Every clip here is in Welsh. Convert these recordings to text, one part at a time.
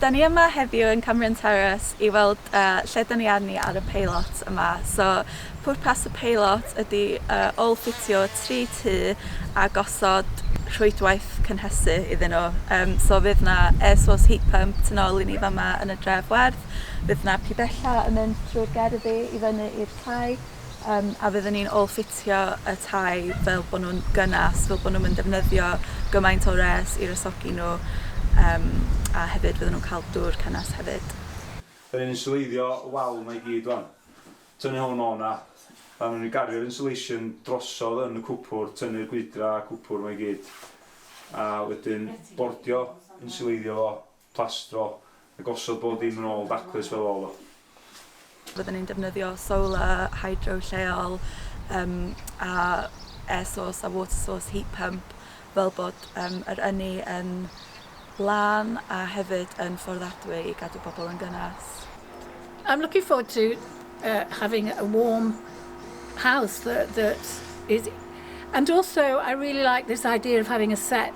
Da ni yma heddiw yn Cambrian Terrace i weld lle da ni arni ar y peilot yma. So, pwrpas y peilot ydy ôl-ffitio tri tŷ a gosod rhwydwaith cynhesu iddyn nhw. Um, so fydd na air source heat pump tu nôl i ni fama yn y dref werdd, fydd na pibella yn mynd trwy'r gerddi i fyny i'r tai, Yym a fydden ni'n ôl ffitio y tai fel bo' nw'n gynnas fel bo' nw'm yn ddefnyddio gymaint o wres i wresogi nhw yym a hefyd fydden nhw'n ca'l dŵr cynnes hefyd. Dyn ni'n inswleiddio y wal yma i gyd wan. Tynnu hwn o 'na. A newn ni gario'r insulation drosodd yn y cwpwrdd, tynnu'r gwydra a cwpwrdd 'ma i gyd. A wedyn bordio, inswleiddio fo plastro a gosod bob dim yn ôl daclus fel o'dd o. Fydden ni'n defnyddio solar, hydro lleol yym a air source a water source heat pump fel bod yym yr ynni yn lân a hefyd yn fforddiadwy i gadw pobl yn gynnes. I'm looking forward to uh having a warm house that that is and also I really like this idea of having a set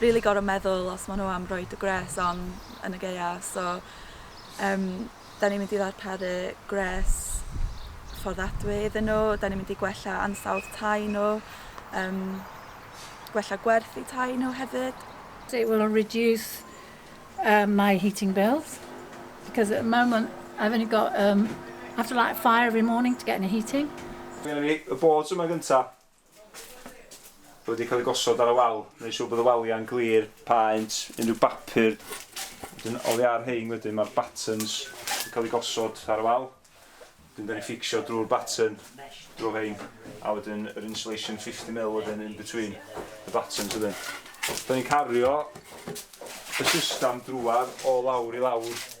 rili gor'o' meddwl os ma' n'w am roid y gwres on yn y Gaea so yym 'dan ni'n mynd i ddarparu gwres fforddadwy iddyn n'w 'dan ni'n mynd i gwella ansawdd tai n'w yym gwella gwerth i tai n'w hefyd. It will reduce err my heating bills because at the moment I've only got erm I have to light a fire every morning to get any heating. Dwi'n mynd i y boards yma gynta. Bod wedi cael ei gosod ar y wal, wneud siŵr bod y waliau'n glir, paent, unrhyw bapur. Wedyn oddi ar rhein wedyn mae'r buttons yn cael ei gosod ar y wal. Wedyn dan ni'n fficsio drwy'r button, drwy rhein, a wedyn yr insulation 50mm wedyn in between y buttons wedyn. Dan ni'n cario y system drwad o lawr i lawr